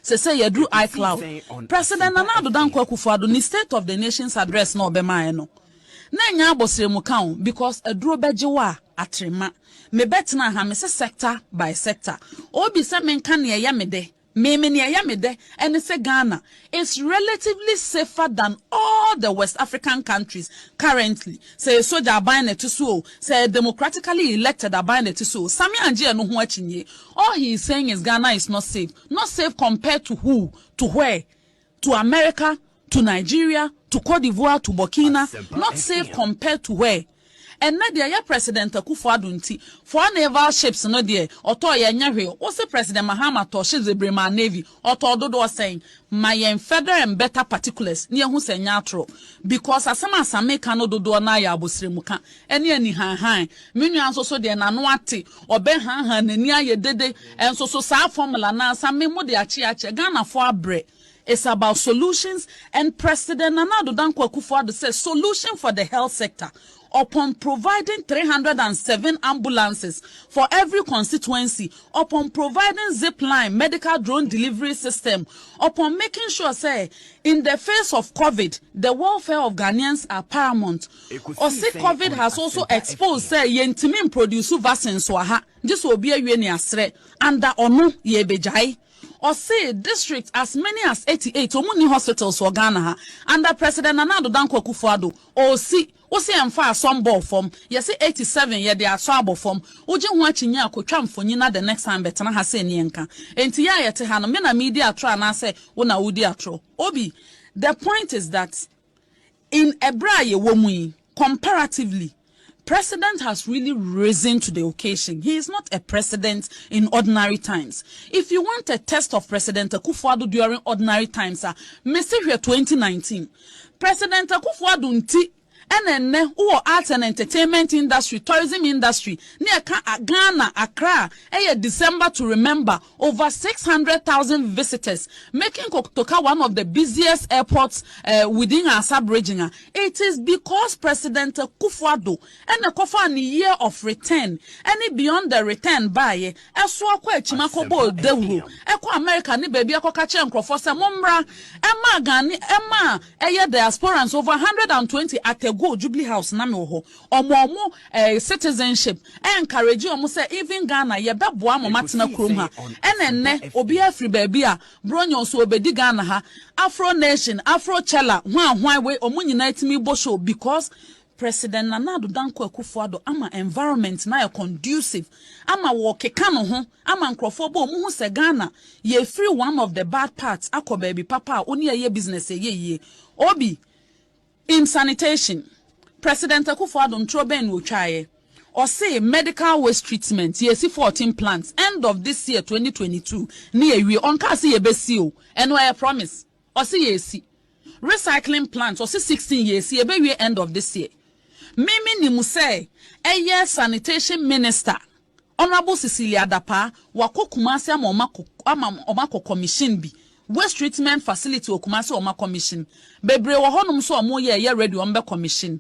Sesei yɛaduru iCloud. President Nana Addo Dankwa Akufo-Addo ne State of the Nation's Address no a ɔbɛmaeɛ no, na ɛnyɛ abɔsrɛmu ka o, because aduro bɛgye wo a, atrema. Mebɛtenaa ha, mese sector by sector. Obi sɛ menka nea ɛyɛ me dɛ. Me me nea ɛyɛ me dɛ ɛne sɛ Ghana is relatively safer than all the West African countries currently, sɛ ɛyɛ sogya aban na ɛte so o, sɛ ɛyɛ democratically elected aban na ɛte so o, Sammy angye ɛno ho akyinnye, all he is saying is Ghana is not safe, not safe compared to who, to where? to America to Nigeria to Cote d'Ivoire to Burkina not safe compared to where Ɛnnɛ deɛ yɛ President Akufo Addo nti four naval ships no deɛ ɔtɔɔ yɛ ɛnyɛ hwee wo se President Mahama tɔɔ ships bebree maa Navy ɔtɔɔ dodoɔ sɛn ma yɛn federal and better particulars na yɛhu sɛ ɛnyɛ atorɔ because asɛm a Asame ka no dodoɔ no ara yɛ abosrɛmu ka ne anihanhan. Me nua nso so deɛ, n'ano ate, ɔbɛhanhan, n'ani ayɛ dede, nso so saa formula no ara sa me, mo de akye akyɛ, Ghanafoɔ abrɛ, it's about solutions and President Nana Addo Dankwa Akufo-Addo sɛ solution for the health sector upon providing three hundred and seven ambulances for every constituency, upon providing zipline medical drone delivery system, upon making sure sɛ in the face of covid the welfare of Ghanaians are paramount, Ɔse covid has also exposed sɛ yɛntumi mproduce vaccines wɔ ha gye sɛ obi awie ne aserɛ under ɔno yɛɛbɛgyae. Ɔse districts as many as eighty eight ɔmu nni hospitals wɔ Ghana ha under President Nana Addo Dankwa Akufo Addo ɔɔsi wose ɛmfa asɔ mbɔɔ fam yɛse eighty seven yɛde asɔ abɔ fam wogye ho akyinnye a kɔtwa mfonyin na the next time bɛtena ha sɛ nni ɛnka enti yɛ a yɛte ha no me na meedi atorɔ anaasɛ wo na wodi atorɔ obi the point is that In ɛberɛ a yɛwɔ mu yi, comparatively, President has really risen to the occasion, he is not a President in ordinary times. If you want a test of President Akufo-Addo during ordinary times a, mese hwɛ 2019. President Akufo-Addo nti ɛna ɛnnɛ wowɔ arts and entertainment industry, tourism industry ne ɛka Ghana, Accra ɛyɛ December to remember Over six hundred thousand visitors making Kotoka one of the busiest airports within our sub-region a, it is because President Akufo-Addo na ɛkɔfaa ne year of return ne beyond the return baeɛ, ɛsoa kɔ akyim akɔbɔɔ dawuro, ɛkɔ America ne baabi akɔka kyerɛɛ nkorɔfoɔ sɛ mommra, ɛmaa Ghanaian, ɛmaa ɛyɛ diasporans over hundred and twenty at a go, Jubilee House na mewɔ hɔ. Ɔmo a ɔmo eh citizenship encourage ɔmo sɛ even Ghana yɛbɛboa ama ɔmo atena kurom ha ɛna ɛnnɛ obiara firi baabi a Bronyɔn so ɔbɛdi Ghana ha Afro Nation, Afro Cella, hwan hwan wei ɔmo nyinaa tumi bɔ show because President Nana Addo Dankwa Akufo Addo ama environment no ayɛ conducive ama wɔɔkeka ne ho ama nkorɔfoɔ bɔ ɔmo hu sɛ Ghana yɛɛfiri one of the bad parts akɔ baabi papa a wo ne yɛyɛ business ɛyɛ yie Obi In sanitation, President Akuffo Addo ntorɔ bɛn na ɔtwaeɛ? Ɔsee medical waste treatment, yɛresi fourteen plants end of this year twenty twenty two ne yɛawie. Ɔnkaa se yɛbɛsi o, ɛno ɛyɛ promise. Ɔse yɛresi. Recycling plant, ɔse sixteen yɛresi, yɛbɛwie end of this year. Me menim sɛ ɛyɛ sanitation minister. Honourable Cecilia Dapaah, Wɔakɔ Kumasi ama wɔakɔ ama wɔakɔ commission bi, Waste Treatment Facility wɔ Kumasi wɔn akɔmission. Bebree wɔ hɔnom nso a wɔreyɛ a ɛyɛ ready wɔbɛ commission.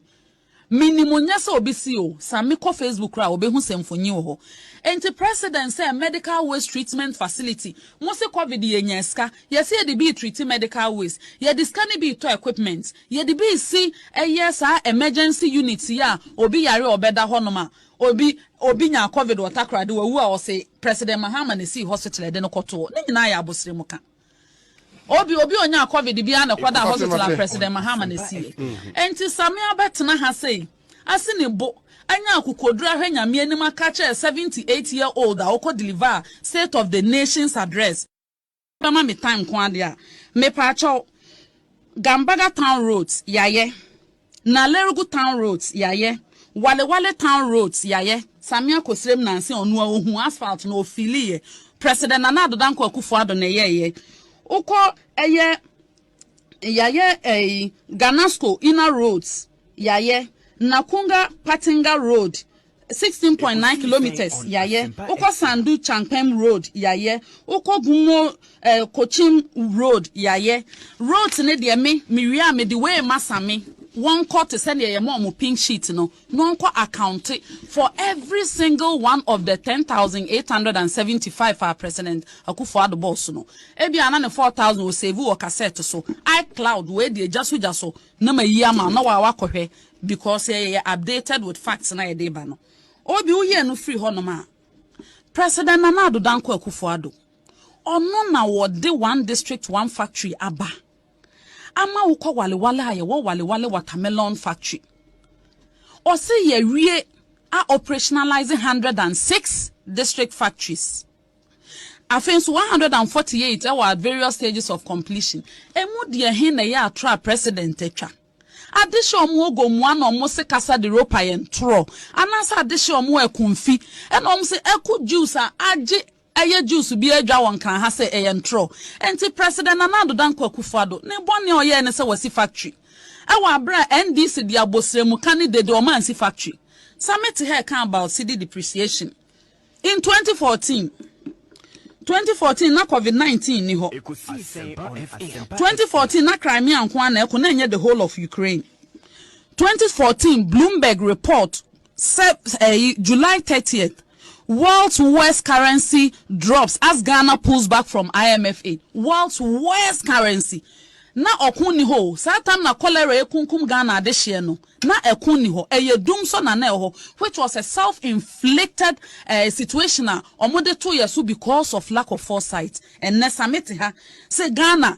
Menim nyɛ sɛ wɔbɛsi o, same kɔ Facebook koraa a wɔbɛhu sɛ mfonyin wɔ hɔ. Enti President sɛ Medical Waste Treatment Facility, mose Covid yɛnyaa sika, yɛse yɛde bi retreati medical waste, yɛde sika no bi retɔ equipment, yɛde bi resi ɛyɛ saa emergency unit yi a obi yare a ɔbɛda hɔnom a Obi obi nyaa covid wɔ Takoradi wawu a ɔse President Mahama na esii hospital a yɛde no kɔtoo. Ne nyinaa yɛ abosere mu ka. Obi obi onyaa covid biara na ɛkɔdaa hospital a President Mahama na esiiɛ. Enti Same abɛtena ha sei, asi ne bo, anya akokoduru ahwɛ Nyame anim aka akyerɛ 78 year old a ɔkɔ deliver state of the nation's address, bɛma me tan nko ade a mepaakyɛw Gambaga town roads yayɛ Nalerugu town roads yayɛ Walewale town roads yayɛ Samia Kosrem Nanse ɔno a ɔhuu asphalt no ɔfiiliiɛ President Nana Addo Dankwa Akufo Addo na ɛyɛeɛ Wokɔ ɛyɛ Yayɛ ɛyi Ganasco inner roads yayɛ Nakunga Patinga road sixteen point nine kilometres yayɛ wokɔ Sandu Chankpem road yayɛ wokɔ Gumo ɛɛ Kochim road yayɛ roads ne deɛ me me wie a mede wei ma Same wɔnkɔ te sɛ deɛ yɛma wɔn pink sheet no na ɔnkɔ accounte for every single one of the ten thousand eight hundred and seventy five a President Akufo Addo bɔɔ so no. Ebia na ne four thousand ɔsave wɔ cassette so, iCloud, wei deɛ gya so gya so na mayi ama wo na wo a woakɔhwɛ because yɛyɛ updated with facts no a yɛde reba no. Obi wo yɛ no firi hɔnom a, President Nana Addo Dankwa Akufo Addo, ɔno na wɔde one district one factory aba. ama wo kɔ wale wale a yɛwɔ wale wale watermelon factory ɔse yɛwie a operationalize hundred and six district factories afei nso one hundred and forty eight ɛwɔ at various stages of completion emu deɛ he na ɛyɛ atorɔ a president atwa adehyɛ ɔmo ogo mua na ɔmo se kasa de ropa yɛn torɔ anaasɛ adehyɛ ɔmo ɛko mfi ɛna ɔmo se ɛko juice a agye Ɛyɛ Jews biara adwa wɔ Nkran ha sɛ ɛyɛ ntorɔ. Enti President Nana Addo Dankwa Akufo-Addo, ne bɔne a ɔyɛɛ ne sɛ wasi factory wɔ abere a NDC de abosrɛmu ka ne dede ɔma ansi factory. Sa me te ha ɛka about cedi depreciation in twenty fourteen. Twenty fourteen na covid nineteen nni hɔ. Twenty fourteen na Crimea nko ara na ɛko na ɛnyɛ the whole of Ukraine. Twenty fourteen Bloomberg report Sep ɛyi July thirtieth world's worst currency drops as Ghana pulls back from IMF aid world's worst currency na ɔko nni hɔ o saa tam na cholera ɛrekunkum Ghana adehyeɛ no na ɛko nni hɔ ɛyɛ dum so na na ɛwɔ hɔ which was a self inflicted eh, situation a wɔn de to yɛ so because of lack of foresight ɛnɛ sa mete ha sɛ Ghana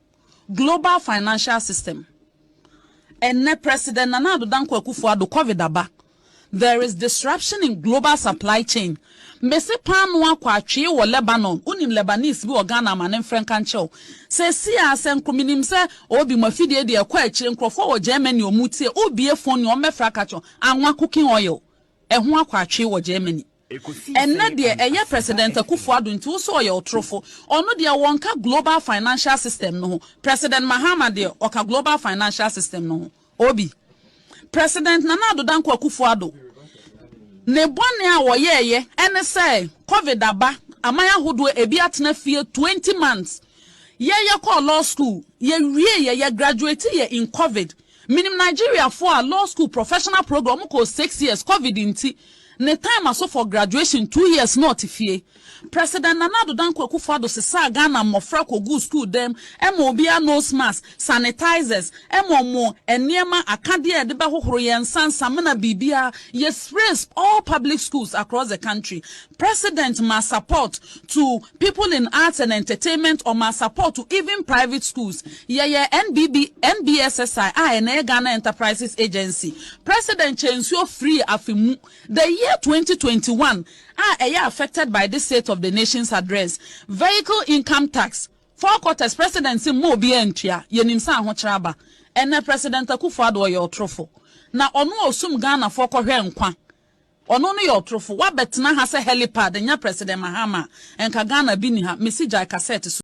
Global financial system Ɛnnɛ President Nana Addo Dankwa Akufo-Addo Covid aba There is disruption in global supply chain Mese paanoo akɔ atwee wɔ Lebanon Wonim Lebanese bi wɔ Ghana ama ne mfrɛ nka nkyerɛ wo Seesei ara sɛ nko menim sɛ Obi mo afidie deɛ ɛkɔ akyire Nkurɔfoɔ wɔ Germany wɔn retie Wobie phone a wɔmmɛfra ka kyerɛ wo Anwa cooking oil ɛho akɔ atwee wɔ Germany Ɛnnɛ deɛ ɛyɛ President Akufo Addo nti wo sɛ ɔyɛ ɔtorofo. Ɔno deɛ wɔnka Global Financial System no ho. President Mahama deɛ ɔka Global Financial System no ho. Obi. President Nana Addo Dankwa Akufo Addo ne bɔne a ɔyɛeɛ ɛne sɛ Covid aba, aman ahodoɔ ɛbi atena fie twenty months. Yɛ yɛkɔɔ law school, yɛwieeɛ, yɛ graduateeɛ in Covid. Menim Nigeria foɔ a law school professional program ɔmo kɔɔ six years covid nti ne time aso for graduation two years na ɔte fie. President Nana Addo Dankwa Akufo Addo sesaa Ghana mmɔfra kɔguu school dan mu ɛma obiara nose mask, sanitizers, ɛma ɔmo nneɛma akadeɛ a yɛde bɛhohoro yɛn nsa, nsamena biribiara yɛ sprays all public schools across the country. President maa support to People in Arts and Entertainment ɔmaa support to even private schools. Yɛyɛɛ NBB, NBSSI a ɛnnɛ yɛ Ghana Enterprises Agency. President Kyɛ Nsuo firii afe mu, the year twenty twenty one, a ɛyɛ affected by this State of the Nation's Address. Vehicle Income Tax, four quarters President se mma obiara ntua, yɛnim sɛ ahokyerɛ aba. Ɛnnɛ President Akufo-Addo ɔyɛ ɔtorofo. Na ɔno a ɔsum Ghanafoɔ kɔhwɛɛ nkwa. Ɔno no yɛ ɔtorofo. Wabɛtena ha sɛ helipad nya President Mahama a, nka Ghana bi nni ha. Mesi gyae kasɛt so.